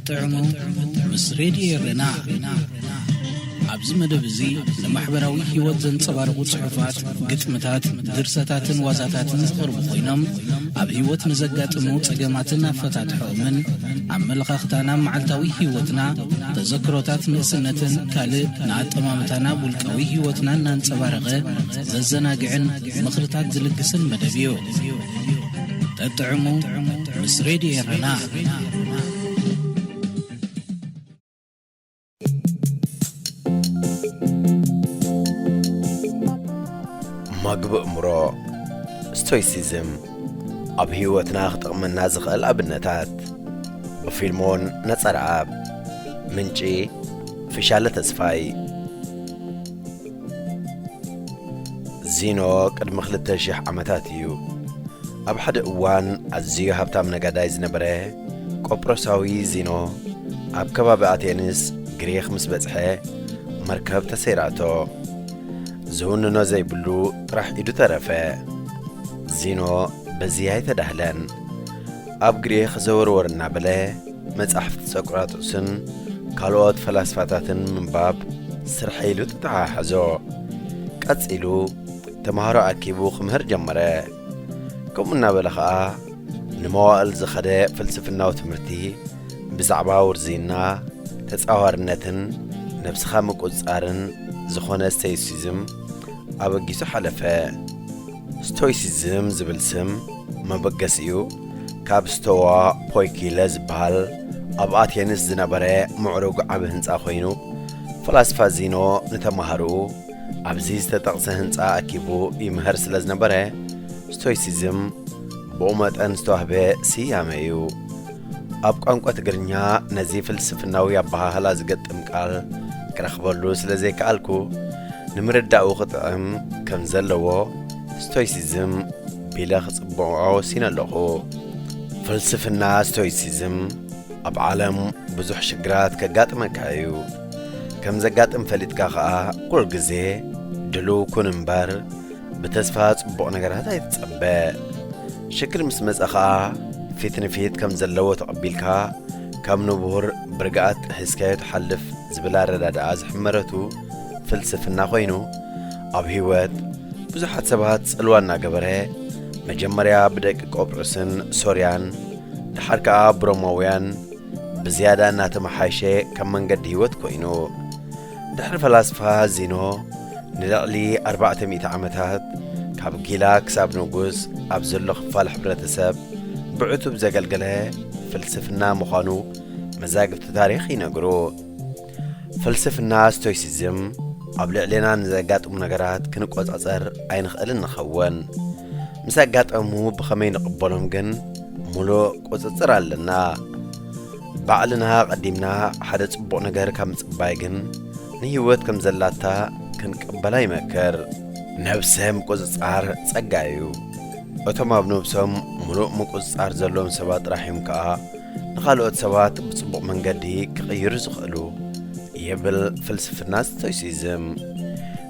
ጥዕሙ ምስ ሬድዮ ኤረና ኣብዚ መደብ እዚ ንማሕበራዊ ህይወት ዘንጸባርቑ ጽሑፋት ግጥምታት ድርሰታትን ዋዛታትን ዝቐርቡ ኮይኖም ኣብ ህይወት ንዘጋጥሙ ጸገማትን ኣፈታትሖምን ኣመለኻኽታና መዓልታዊ ህይወትና ተዘክሮታት ንእስነትን ካልእ ንኣጠማምታና ውልቃዊ ህይወትና እናንጸባረቐ ዘዘናግዕን ምኽርታት ዝልግስን መደብ እዩ ጠጥዕሙ ምስ ሬድዮ ኤረና ማግቢ እምሮ ስቶይሲዝም ኣብ ህይወትና ክጠቕመና ዝኽእል ኣብነታት ብፊልሞን ነጸርኣብ ምንጪ ፍሻለ ተስፋይ ዚኖ ቅድሚ ክልተ ሽሕ ዓመታት እዩ ኣብ ሓደ እዋን ኣዝዩ ሃብታም ነጋዳይ ዝነበረ ቆጵሮሳዊ ዚኖ ኣብ ከባቢ ኣቴንስ ግሪኽ ምስ በጽሐ መርከብ ተሰይራቶ ዝውንኖ ዘይብሉ ጥራሕ ኢዱ ተረፈ ዚኖ በዚ ኣይተዳህለን ኣብ ግሪኽ ዘወርወር እናበለ መጻሕፍቲ ሶቅራጦስን ካልኦት ፈላስፋታትን ምንባብ ስርሐይ ኢሉ ተተሓሓዞ። ቀጺሉ ተምሃሮ ኣኪቡ ክምህር ጀመረ። ከምኡ እናበለ ኸኣ ንመዋእል ዝኸደ ፍልስፍናዊ ትምህርቲ ብዛዕባ ውርዝይና፣ ተጻዋርነትን ነብስኻ ምቁጽጻርን ዝኾነ ስቶይሲዝም ኣበጊሱ ሓለፈ። ስቶይሲዝም ዝብል ስም መበገሲኡ፣ ካብ ስተዋ ፖይኪለ ዝበሃል ኣብ ኣቴንስ ዝነበረ ምዕሩግ ዓቢ ህንጻ ዀይኑ፣ ፈላስፋ ዚኖ ንተማሃሮኡ ኣብዚ ዝተጠቕሰ ህንጻ ኣኪቡ ይምህር ስለ ዝነበረ፣ ስቶይሲዝም ብኡ መጠን ዝተዋህበ ስያመ እዩ። ኣብ ቋንቋ ትግርኛ ነዚ ፍልስፍናዊ ኣበሃህላ ዝገጥም ቃል ክረኽበሉ ስለ ዘይከኣልኩ፣ ንምርዳኡ ክጥዕም ከም ዘለዎ ስቶይሲዝም፣ ቢለ ክጽብዖ ወሲነ ኣለኹ። ፍልስፍና ስቶይሲዝም ኣብ ዓለም ብዙሕ ሽግራት ከጋጥመካ እዩ። ከም ዘጋጥም ፈሊጥካ ኸኣ ኩሉ ግዜ ድሉው ኩን እምበር ብተስፋ ጽቡቕ ነገራት ኣይትጸበ። ሽግር ምስ መጸ ኸኣ ፊት ንፊት ከም ዘለዎ ተቐቢልካ ከም ንቡር ብርግኣት ጥሒስካዮ ትሓልፍ ዝብል ኣረዳድኣ ዝሕመረቱ ፍልስፍና ኮይኑ ኣብ ህይወት ብዙሓት ሰባት ጽልዋ እናገበረ መጀመርያ ብደቂ ቆጵዑስን ሶርያን ድሓር ከኣ ብሮማውያን ብዝያዳ እናተመሓየሸ ከም መንገዲ ህይወት ኮይኑ ድሕሪ ፈላስፋ ዚኖ ንልዕሊ 400 ዓመታት ካብ ጊላ ክሳብ ንጉስ ኣብ ዘሎ ክፋል ሕብረተሰብ ብዕቱብ ዘገልገለ ፍልስፍና ምዃኑ መዛግብቲ ታሪኽ ይነግሩ። ፍልስፍና ስቶይሲዝም ኣብ ልዕሌና ንዘጋጥሙ ነገራት ክንቆጻጸር ኣይንኽእልን ንኸውን ምስ ኣጋጠሙ ብኸመይ ንቕበሎም ግን ሙሉእ ቁጽጽር ኣለና ባዕልና ቀዲምና ሓደ ጽቡቕ ነገር ካብ ምጽባይ ግን ንህይወት ከም ዘላታ ክንቅበላ ይመክር ነብሰ ምቁጽጻር ጸጋ እዩ እቶም ኣብ ነብሶም ሙሉእ ምቁጽጻር ዘለዎም ሰባት ጥራሕ እዮም ከኣ ንኻልኦት ሰባት ብጽቡቕ መንገዲ ክቕይሩ ዝኽእሉ ይብል ፍልስፍና ስቶይሲዝም።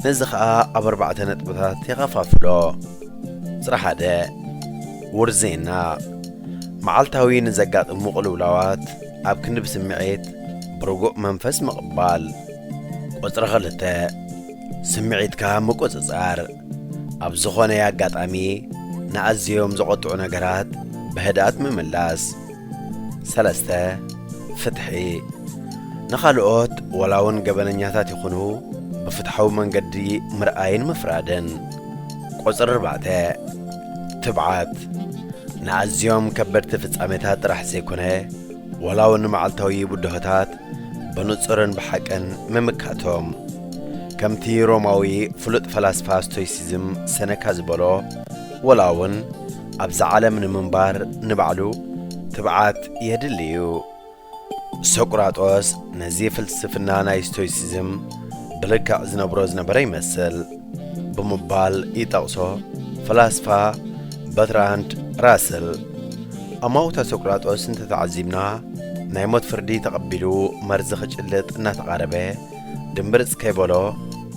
ነዚ ኸኣ ኣብ ኣርባዕተ ነጥብታት የኸፋፍሎ። ጽረ ሓደ ውርዜና መዓልታዊ ንዘጋጥሙ ቅልውላዋት ኣብ ክንዲ ብስምዒት ብርጉእ መንፈስ ምቕባል። ቁጽሪ ክልተ ስምዒትካ ምቁጽጻር። ኣብ ዝኾነ ኣጋጣሚ ንኣዘዮም ዘቖጥዑ ነገራት ብህድኣት ምምላስ። ሰለስተ፣ ፍትሒ፣ ንኻልኦት ወላ ውን ገበነኛታት ይኹኑ ብፍትሓዊ መንገዲ ምርኣይን ምፍራድን። ቁጽሪ ኣርባዕተ፣ ትብዓት፣ ንኣዘዮም ከበድቲ ፍጻሜታት ጥራሕ ዘይኮነ፣ ዋላውን ንመዓልታዊ ብድሆታት ብንጹርን ብሓቅን ምምካቶም ከምቲ ሮማዊ ፍሉጥ ፈላስፋ ስቶይሲዝም ሰነካ ዝበሎ ወላውን ኣብዛ ዓለም ንምንባር ንባዕሉ ትብዓት የድሊ እዩ። ሶቅራጦስ ነዚ ፍልስፍና ናይ ስቶይሲዝም ብልክዕ ዝነብሮ ዝነበረ ይመስል። ብምባል ይጠቕሶ። ፈላስፋ በትራንድ ራስል ኣማውታ ሶቅራጦስ እንተተዓዚብና ናይ ሞት ፍርዲ ተቐቢሉ መርዚ ክጭልጥ እናተቓረበ ድምብርጽ ከይበሎ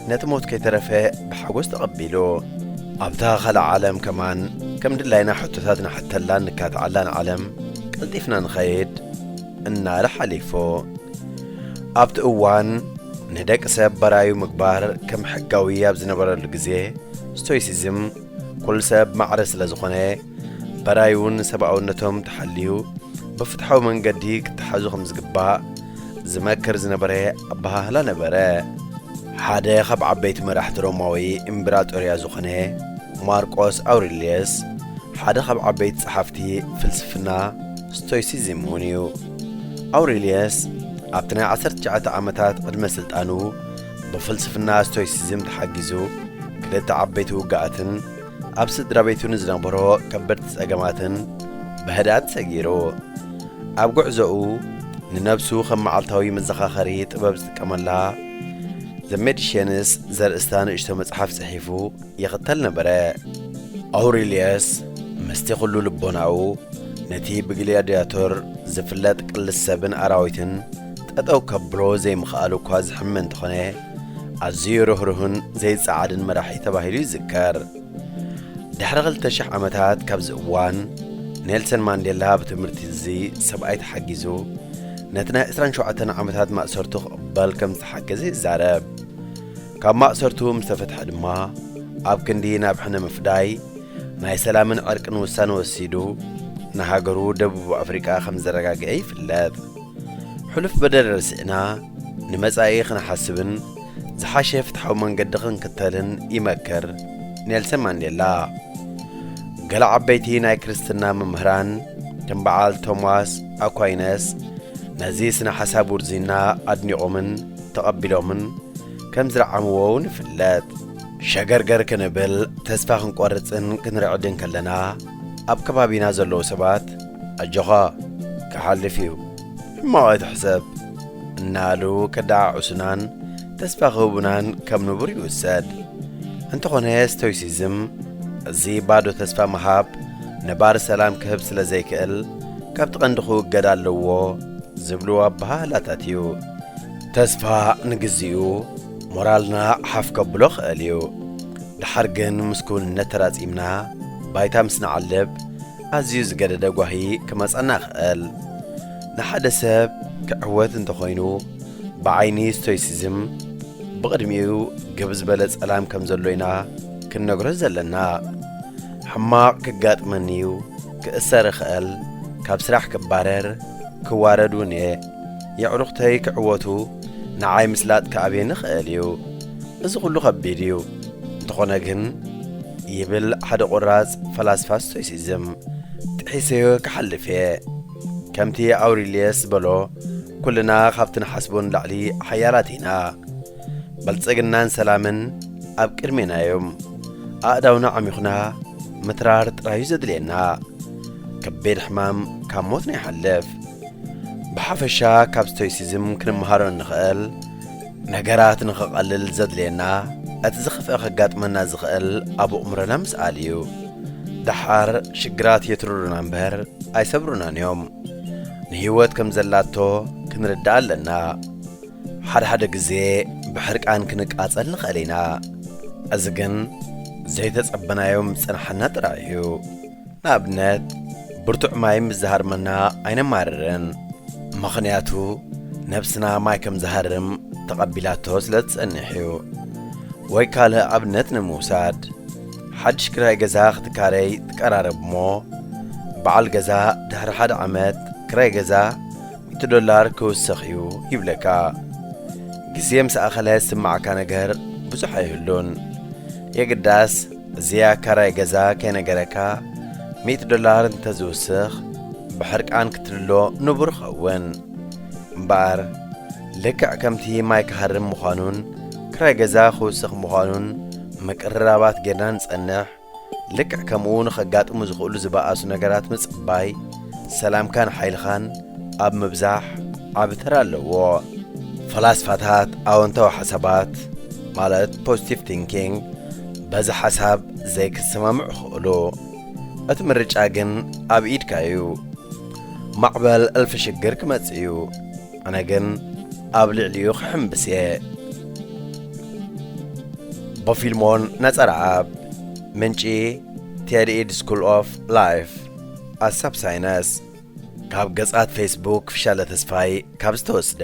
ነቲ ሞት ከይተረፈ ብሓጎስ ተቐቢሉ ኣብታ ካልእ ዓለም ከማን ከም ድላይና ሕቶታት ንሕተላን ንካትዓላን ዓለም ቀልጢፍና ንኸይድ እናረ ሓሊፉ ኣብቲ እዋን ንደቂ ሰብ በራዩ ምግባር ከም ሕጋዊ ኣብ ዝነበረሉ ግዜ ስቶይሲዝም ኩሉ ሰብ ማዕረ ስለ ዝኾነ በራዩን ሰብኣውነቶም ተሓልዩ ብፍትሓዊ መንገዲ ክተሓዙ ከም ዝግባእ ዝመክር ዝነበረ ኣበሃህላ ነበረ ሓደ ካብ ዓበይቲ መራሕቲ ሮማዊ እምብራጦርያ ዝኾነ ማርቆስ ኣውሪልየስ ሓደ ካብ ዓበይቲ ጸሓፍቲ ፍልስፍና ስቶይሲዝም እውን እዩ። ኣውሬልየስ ኣብቲ ናይ ዓሰርተ ትሽዓተ ዓመታት ዕድመ ስልጣኑ ብፍልስፍና ስቶይሲዝም ተሓጊዙ ክልተ ዓበይቲ ውግኣትን ኣብ ስድራ ቤቱ ንዝነበሮ ከበድቲ ጸገማትን ብህድኣት ሰጊሩ ኣብ ጉዕዞኡ ንነብሱ ከም መዓልታዊ መዘኻኸሪ ጥበብ ዝጥቀመላ ዘ ሜዲሽንስ ዘርእስታ ንእሽቶ መጽሓፍ ጽሒፉ ይኽተል ነበረ። ኣውሬልየስ ምስቲ ዅሉ ልቦናኡ ነቲ ብግልያድያቶር ዚፍለጥ ቅልስ ሰብን ኣራዊትን ጠጠው ከብሎ ዘይምኽኣሉ እኳ ዚሕመ እንተዀነ፣ ኣዝዩ ርህሩህን ዘይጸዓድን መራሒ ተባሂሉ ይዝከር። ድሕሪ ክልተ ሽሕ ዓመታት ካብዚ እዋን፣ ኔልሰን ማንዴላ ብትምህርቲ እዚ ሰብኣይ ተሓጊዙ ነቲ ናይ ዕስራን ሸውዓተን ዓመታት ማእሰርቱ ክቕበል ከም ዝተሓገዘ ይዛረብ። ካብ ማእሰርቱ ምስ ተፈትሐ ድማ ኣብ ክንዲ ናብ ሕነ ምፍዳይ ናይ ሰላምን ዕርቅን ውሳነ ወሲዱ ንሃገሩ ደቡብ ኣፍሪቃ ከም ዘረጋግዔ ይፍለጥ። ሕሉፍ በደል ረሲዕና ንመጻኢ ክንሓስብን ዝሓሸ ፍትሓዊ መንገዲ ክንክተልን ይመክር ኔልሰን ማንዴላ። ገለ ዓበይቲ ናይ ክርስትና መምህራን ከም በዓል ቶማስ ኣኳይነስ ነዚ ስነ ሓሳብ ውርዝይና ኣድኒቖምን ተቐቢሎምን ከም ዝረዓምዎ እውን ይፍለጥ። ሸገርገር ክንብል፣ ተስፋ ክንቆርጽን ክንርዕድን ከለና፣ ኣብ ከባቢና ዘለዉ ሰባት ኣጆኻ ክሓልፍ እዩ፣ ሕማቕ ኣይትሕሰብ እናበሉ ከደዓዕሱናን ተስፋ ክህቡናን ከም ንቡር ይውሰድ። እንተኾነ ስቶይሲዝም እዚ ባዶ ተስፋ ምሃብ ነባሪ ሰላም ክህብ ስለ ዘይክእል ካብቲ ቀንዲ ክውገድ ኣለዎ ዝብሉ ኣበሃህላታት እዩ። ተስፋ ንግዚኡ ሞራልና ሓፍ ከብሎ ክእል እዩ ድሓር ግን ምስ ክውንነት ተራጺምና ባይታ ምስ ንዓልብ ኣዝዩ ዝገደደ ጓሂ ክመጸና ይክእል ንሓደ ሰብ ክዕወት እንተኮይኑ ብዓይኒ ስቶይሲዝም ብቅድሚኡ ግብ ዝበለ ጸላም ከም ዘሎ ኢና ክንነግሮ ዘለና ሕማቅ ክጋጥመኒ እዩ ክእሰር ይክእል ካብ ስራሕ ክባረር ክዋረድ ውን እየ የዕሩኽተይ ክዕወቱ ንዓይ ምስላጥ ክኣብየኒ ይኽእል እዩ። እዚ ኹሉ ኸቢድ እዩ። እንተኾነ ግን ይብል ሓደ ቁራጽ ፈላስፋ ስቶይሲዝም፣ ጥሒሰዮ ክሓልፍ እየ። ከምቲ ኣውሪልየስ ዝበሎ ኩልና ካብቲ ንሓስቦ ንላዕሊ ሓያላት ኢና። ብልጽግናን ሰላምን ኣብ ቅድሜና እዮም። ኣእዳውና ዓሚኹና ምትራር ጥራይ እዩ ዘድልየና። ከቢድ ሕማም ካብ ሞት ንይሓልፍ። ብሓፈሻ ካብ ስቶይሲዝም ክንመሃሮ እንኽእል ነገራት ንኽቐልል ዘድልየና እቲ ዝኸፍአ ከጋጥመና ዝኽእል ኣብ ኣእምሮና ምስኣል እዩ። ደሓር ሽግራት የትርሩና እምበር ኣይሰብሩናን እዮም። ንህይወት ከም ዘላቶ ክንርዳእ ኣለና። ሓድሓደ ግዜ ብሕርቃን ክንቃጸል ንኽእል ኢና። እዚ ግን ዘይተጸበናዮም ዝጸንሓና ጥራይ እዩ። ንኣብነት ብርቱዕ ማይ ምስ ዝሃርመና ኣይነማርርን፣ ምኽንያቱ ነብስና ማይ ከም ዝሃርም ተቐቢላቶ ስለ እትጸንሕ እዩ። ወይ ካልእ ኣብነት ንምውሳድ፣ ሓድሽ ክራይ ገዛ ክትካረይ ትቀራረብ እሞ፣ በዓል ገዛ ድሕሪ ሓደ ዓመት ክራይ ገዛ ሚእቲ ዶላር ክውስኽ እዩ ይብለካ። ግዜ ምስ ኣኸለ ዝስምዓካ ነገር ብዙሕ ኣይህሉን፣ የግዳስ፣ እዚ ኣካራይ ገዛ ከይነገረካ ሚእቲ ዶላር እንተ ዝውስኽ ብሕርቃን ክትልሎ ንቡር ይኸውን እምበኣር ልክዕ ከምቲ ማይ ክሃርም ምዃኑን ክራይ ገዛ ክውስኽ ምዃኑን ምቅርራባት ጌርና ንጸንሕ ልክዕ ከምኡ ንኸጋጥሙ ዝኽእሉ ዝበኣሱ ነገራት ምጽባይ ሰላምካን ሓይልኻን ኣብ ምብዛሕ ዓቢ ተራ ኣለዎ ፈላስፋታት ኣወንታዊ ሓሳባት ማለት ፖዚቲቭ ቲንኪንግ በዚ ሓሳብ ዘይክትሰማምዕ እኽእሉ እቲ ምርጫ ግን ኣብ ኢድካ እዩ ማዕበል እልፊ ሽግር ክመጽእ እዩ ኣነ ግን ኣብ ልዕሊኡ ክሕምብስ እየ ቦፊልሞን ነጸረኣብ ምንጪ ቴዲ ኢድ ስኩል ኦፍ ላይፍ ኣሳብ ሳይነስ ካብ ገጻት ፌስቡክ ፍሻለ ተስፋይ ካብ ዝተወስደ